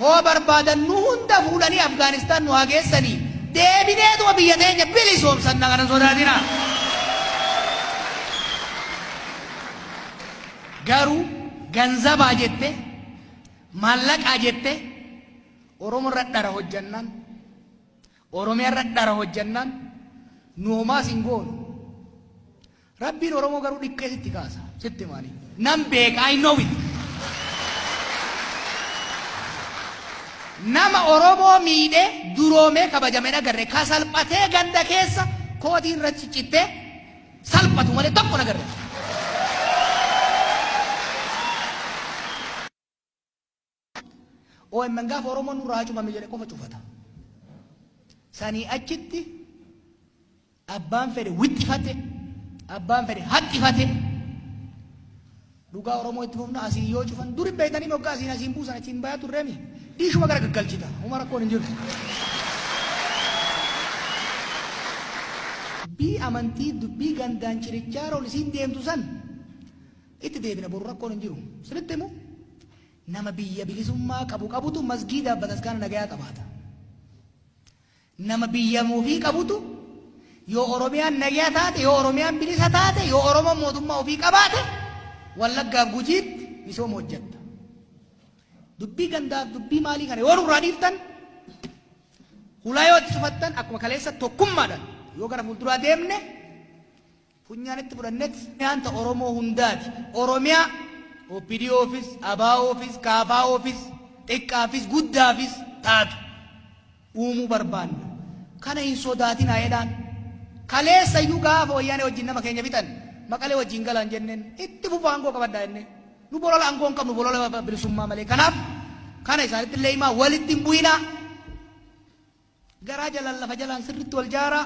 Hoo barbaadan nu hunda fuudhanii Afgaanistaan nu haa geessanii deebineetuma biyya teenya bilisoomsanna kana sodaatina. Garuu ganzabaa jette maallaqaa jette Oromo irra dhara hojjannaan Oromiyaa irra dhara hojjannaan nu homaas hin goonu. Rabbiin oromoo garuu dhiqqee sitti kaasa sitti hima ani nan beeka I know it nama oromoo miidhee duroomee kabajame hin agarre ka salphatee ganda keessa kootii irra ciccittee salphatu malee tokko hin agarre. omn gaafa Oromoon nurraa hacubame jedhe qofa cufata. Sanii achitti abbaan fedhe wixxifate, abbaan fedhe haxxifate. Dhugaa Oromoo itti fufna asiin yoo cufan dur hin beektanii moggaa asiin asiin buusan achiin bayaa turreemi. Dhiishuma gara gaggalchita. Huma rakkoon hin jiru. Dubbii amantii, dubbii gandaan cirichaa rool isiin deemtu san Itti deebina boru rakkoon hin jiru. Sinitti himu nama biyya bilisummaa qabu qabutu masgiidaaf bataskaana nagayaa qabaata. Nama biyya ofii qabutu yoo Oromiyaan nagaya taate, yoo Oromiyaan bilisa taate, yoo Oromoon mootummaa ofii qabaate Wallaggaaf Gujiitti misooma hojjetta. Dubbii gandaaf dubbii maalii kana yoo nurraa dhiiftan hulaa yoo itti cufattan akkuma kaleessa tokkummaadhaan yoo gara fuulduraa deemne funyaanitti fudhannet nyaanta Oromoo hundaati. Oromiyaa OPDOfis, ABOfis, KFOfis, xiqqaafis, guddaafis taatu uumuu barbaanna. Kana hin sodaatinaa jedhaan. Kaleessa iyyuu gaafa Wayyaanee wajjin nama keenya fixan Maqalee wajjin galaan jenneen itti fufaa aangoo qabadhaa jennee. Nu bolola aangoo hin qabnu bolola bilisummaa malee. Kanaaf kana isaanitti illee himaa walitti hin bu'inaa. Garaa jalaan lafa jalaan sirriitti wal jaaraa.